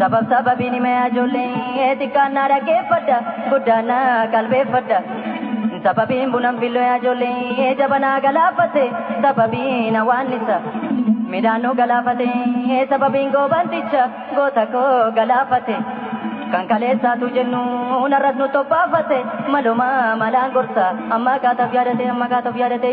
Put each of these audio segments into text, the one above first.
Sabab sababiin himee ijoollee xiqqaan na dhaggeeffadha guddaan na qalbeeffadha. Sababiin bunan fillee ijoollee jabanaa galaafate sababiin hawaannisa. Midhaan nu galaafate sababiin goobanticha goota koo galaafate. Kan kaleessaatu jennu narras nu tophaafate maluma malaan gorsa amma kaataf yaadate amma kaataf yaadate.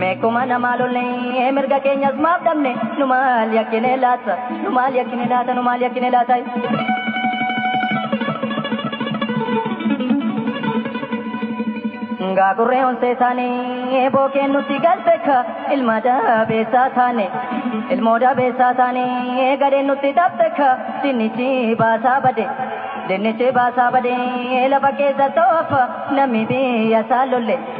Meekuma namaa lollee mirga keenyas maaf dhabne nu maal yakkine laata nu maal yakkine laata nu maal yakkine laata. Ngaa gurree onsee taane bookeen nutti galbeeka ilma dabeessaa taane ilmoo dabeessaa taane gadheen nutti dabbeeka dinnichi baasaa bade dinnichi baasaa bade lafa keessa ta'u affa namni biyya isaa lolle.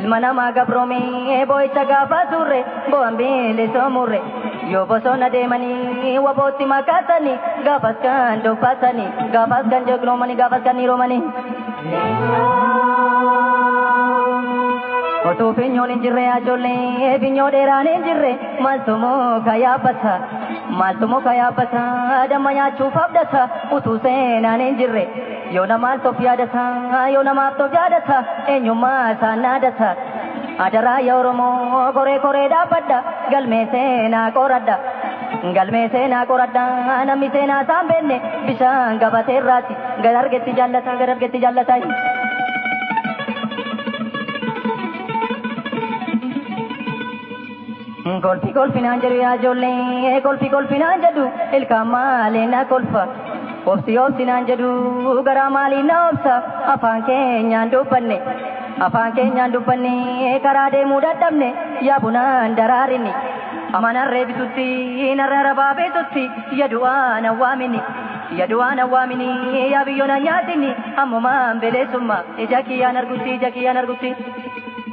Ilma namaa gabroomee boo'icha gaafa turre bu'aan bilisoomuurre yoo bosona deemanii wabootti makaasanii gaafas kan dubbaasanii gaafas kan jegnoomanii gaafas kan hiroomanii. Otuu finyoon hin jirre ajoollee finyoo dheeraan hin jirre maaltu muka yaabbata maaltu muka yaabbata damma nyaachuuf abdata utuu seenaan hin jirre. Yoo namaas of yaadata, yoo namaaf of yaadata, eenyummaa isaa naadata. Adaraa yaa Oromoo koree koree dhaabbadha, galmee seenaa qoradha. Galmee seenaa qoradha, namni seenaa isaan beenne bishaan gabatee irraati. Gad argetti jaallata, gad argetti jaallata. Kolfi kolfinaan jedhu yaa ijoollee kolfi kolfinaan jedhu ilkaan maalee na kolfa. Obsi obsinaan jedhu garaa maalii na obsa afaan keenyaan dubbanne. Afaan keenyaan dubbanne karaa deemuu dadhabne yaa bunaan daraarini. Amma narree bitutti narra rabaa bitutti yadu'aan awwaamini. Yadu'aan awwaamini yaa biyyoon anyaatini ammumaan beleessummaa ija kiyyaan argutti ija kiyyaan argutti.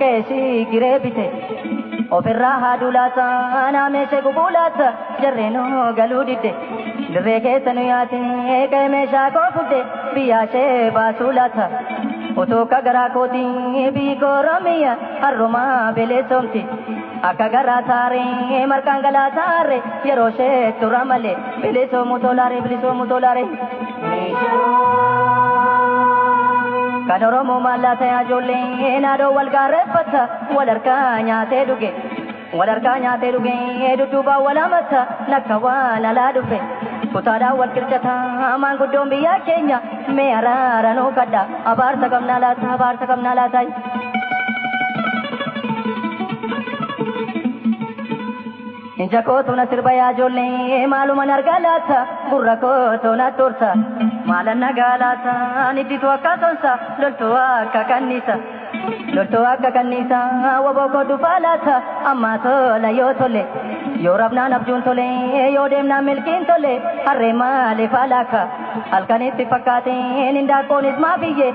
Keesi giree bite ofirraa haaduu laata naameesee gubuu laata jarree nu galuu didde dirree keessa nu yaate ka'e meeshaa koo fudde biyyaa ishee baasuu laata utuu akka garaa kootii biyyi koo Oromiyaa harrumaa beleessoomti akka garaa saaree marqaan galaa saaree yeroo ishee tura malee. Bilisoomu tolaare bilisoomu tolaare. Kan Oromoo maallaa ta'aa ijoollee naadoo wal gaarreeffata wal harkaa nyaatee dhuge. Wal harkaa nyaatee dhuge dudduubaan wal hamatta lakka waan alaa dhufe. Kutaadhaan wal qircataa maanguddoon biyyaa keenya mee araara nuu kadha abaarsa qabnaa laata abaarsa qabnaa laata. Ija koo tuna sirba yaa ijoollee maaluman argaa laata gurra koo tuna turta maalan nagaa laata nidditu akka sonsa loltuu akka kanniisa loltuu akka kanniisa waboo koo dhufaa laata ammaa tola yoo tole yoo rabnaan abjuun tole yoo deemnaan milkiin tole harree maaliif alaaka halkanitti fakkaateen hindaaqqoonis maafiyyee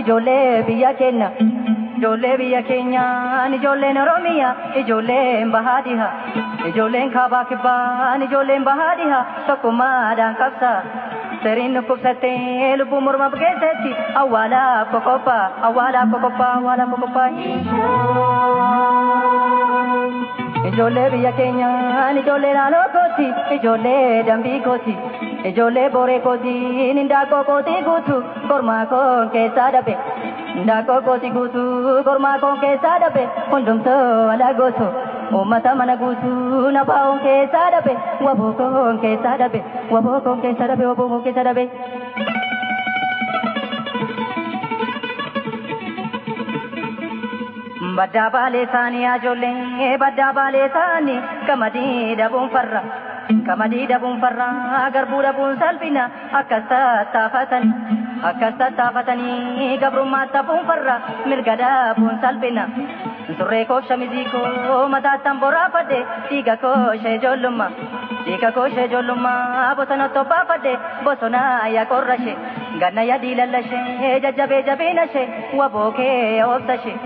Ijoollee biyya keenya, ijoollee biyya keenyaan, ijoolleen Oromiyaa, ijoolleen bahaa dhiha, ijoolleen kaabaa kibbaan, ijoolleen bahaa dhiha, tokkummaadhaan qabsa. Siriin dhukkubsattee lubbuu mormaaf geessetti, awwaalaaf qoqopha, awwaalaaf qoqopha, awwaalaaf qoqopha. Ijoollee biyya keenyaan, ijoollee naannoo kooti, ijoollee dambii kooti, ijoollee booree kootiin, hindaaqqoo kootii guutuu. Kormaa koon keessaa dhabe Daakoo kooti guutuu Kormaa koon keessaa dhabe Hundumtuu ala gootu Uummata mana guutuu Na baa'oon keessaa dhabe Waboo koon keessaa dhabe Waboo koon keessaa dhabe Waboo koon keessaa dhabe Baddaa baalee taanii ajoollee baddaa baalee taanii qamadii dhabuun farra qamadii dhabuun farra garbuu dhabuun salphina Akkas tattaafatanii akkas tattaafatanii gabrummaa taphuun farra mirga dhaabuun salphina. Surree koof shamizii koo mataattan boraafadhe dhiiga koo ishee ijoollummaa. Dhiiga koo ishee ijoollummaa bosona tobbaafadhe bosona yaa qorra ishee. Ganna yaa diilalla ishee jajjabee jabiina ishee waboo kee yaa obsa ishee.